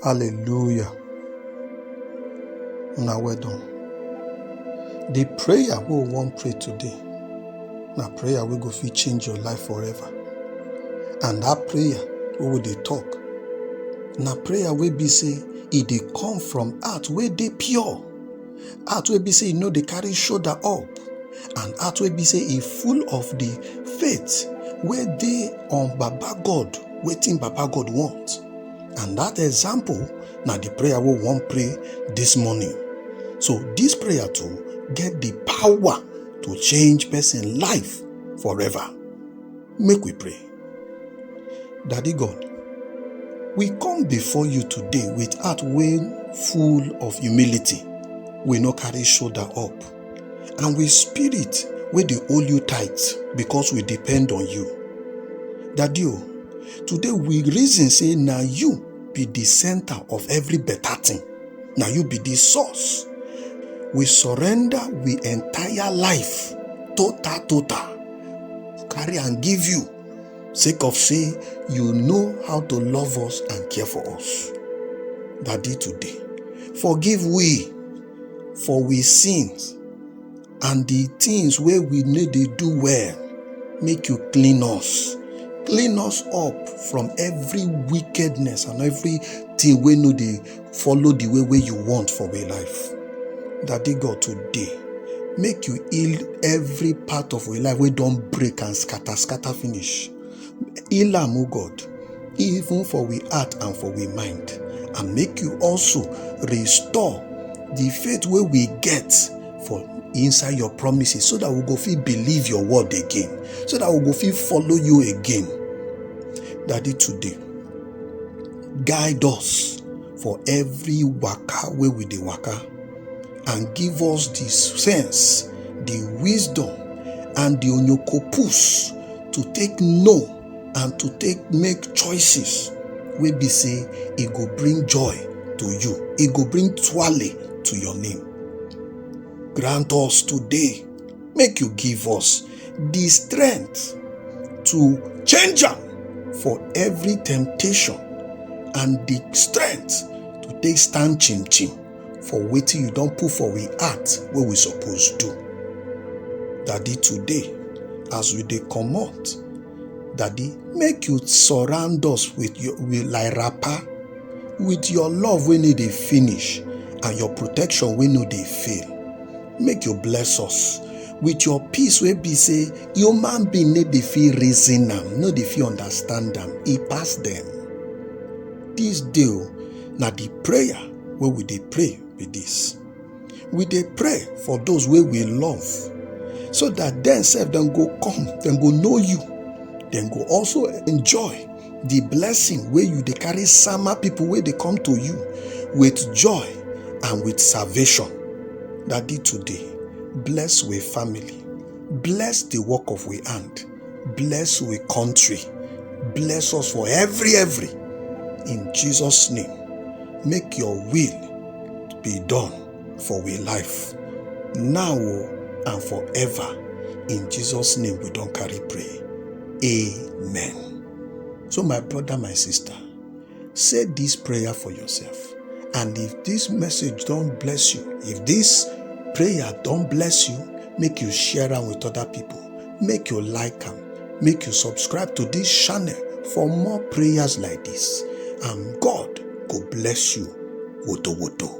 Hallelujah. Una well done. The prayer we wan pray today na prayer wey go fit change your life forever. And that prayer wey we dey talk na prayer wey be say e dey come from heart wey dey pure. heart wey be say e no dey carry shoulder up and heart wey be say e full of the faith wey dey on baba god wetin baba god want and that example na the prayer wey we wan pray this morning so this prayer too get the power to change person life forever. Make we pray. Daddy God, we come before you today with heart wey full of humility. We no carry shoulder up and with spirit wey dey hold you tight because we depend on you. Daddy o, today we reason say na you be the center of every better thing. Na you be the source. We surrender we entire life total total. carry and give you sake of say you know how to love us and care for us daddy today forgive we for we sins and the things wey we no dey do well make you clean us clean us up from every wickedness and everything wey no dey follow the way wey you want for your life daddy god today make you heal every part of your life wey don break and scatter scatter finish heal am o god even for we heart and for we mind and make you also restore the faith wey we get for inside your promises so that we go fit believe your word again so that we go fit follow you again daddy today guide us for every waka wey we dey waka and give us the sense the wisdom and the onyokopus to take know and to take make choices wey be say e go bring joy to you e go bring twale to your name grant us today make you give us the strength to change am for every temptation and the strength to take stand chim chim for wetin you don put for we heart wey we suppose do. Daddy, today, as we dey comot, Daddy, make you surround us with your with like wrapper, with your love wey no dey finish and your protection wey no dey fail. make you bless us with your peace wey be say human being no dey fit reason am no dey fit understand am e pass dem this day o oh, na the prayer wey we dey pray be this we dey pray for those wey we love so that dem sef dem go come dem go know you dem go also enjoy the blessing wey you dey carry sama people wey dey come to you with joy and with salvation daddy today bless we family bless the work of we hand bless we country bless us for every every in jesus name make your will be done for we life, now oh, and forever. In Jesus' name we don't carry pray. Amen. So my brother, my sister, say this prayer for yourself. And if this message don't bless you, if this prayer don't bless you, make you share them with other people. Make you like them. Make you subscribe to this channel for more prayers like this. And God go bless you. Woto woto.